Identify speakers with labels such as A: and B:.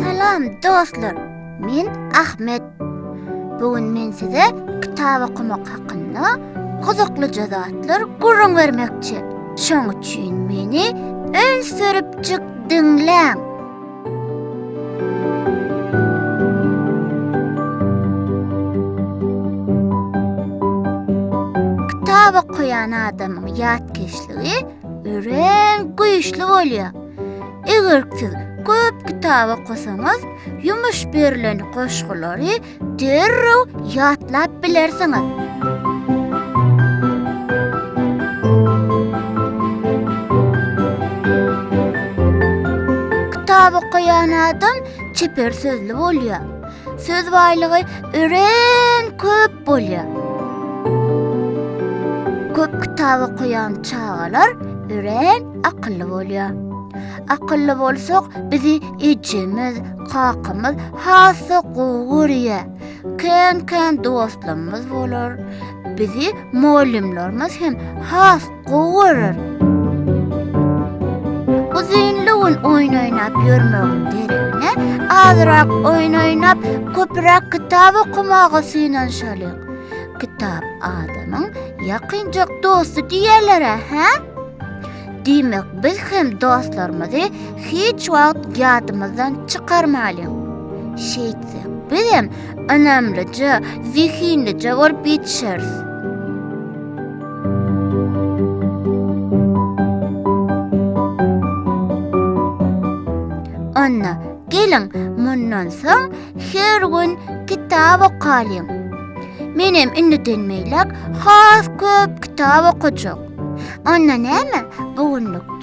A: Salam dostlar, men Ahmet. Bu gün men size kitap okamak hakynda gyzyklyja zatlar gürrüň bermekçi. Şoň üçin meni önsüripjik diňläň. Kitap okaýan adamyň ýatkeşligi Örän güýçli bolýar. Eger siz köp kitap okasaňyz, ýumuş berlen goşgulary derrew ýatlap bilersiňiz. Kitap okaýan adam çeper sözli bolýar. Söz baýlygy örän köp köp bolýar. Köp kitap okaýan çagalar örän akylly bolýar. Akylly bolsak, bizi ejemiz, kakamyz has-da gowy görýär. Kän-kän dostlarymyz bolar. Bizi mugallymlarymyz hem has gowy görer. Uzynlygyn oýun oýnap ýörmegiň deregine, azrak oýun oýnap, köpräk kitap okamaga synanyşalyň. Kitap adamyň ýakynjak dosty diýerler-ä, hä? Diýmek, biz hem dostlarymyzy hiç wagt ýadymyzdan çykarmalyň. Şeýtsek, bizem ynamlyja, zehinlije bolup ýetişeris. Anna, geliň, mundan soň her gün kitap okalyň. Menem indiden meýläk has köp kitap okajak. Anna näme, bu günlük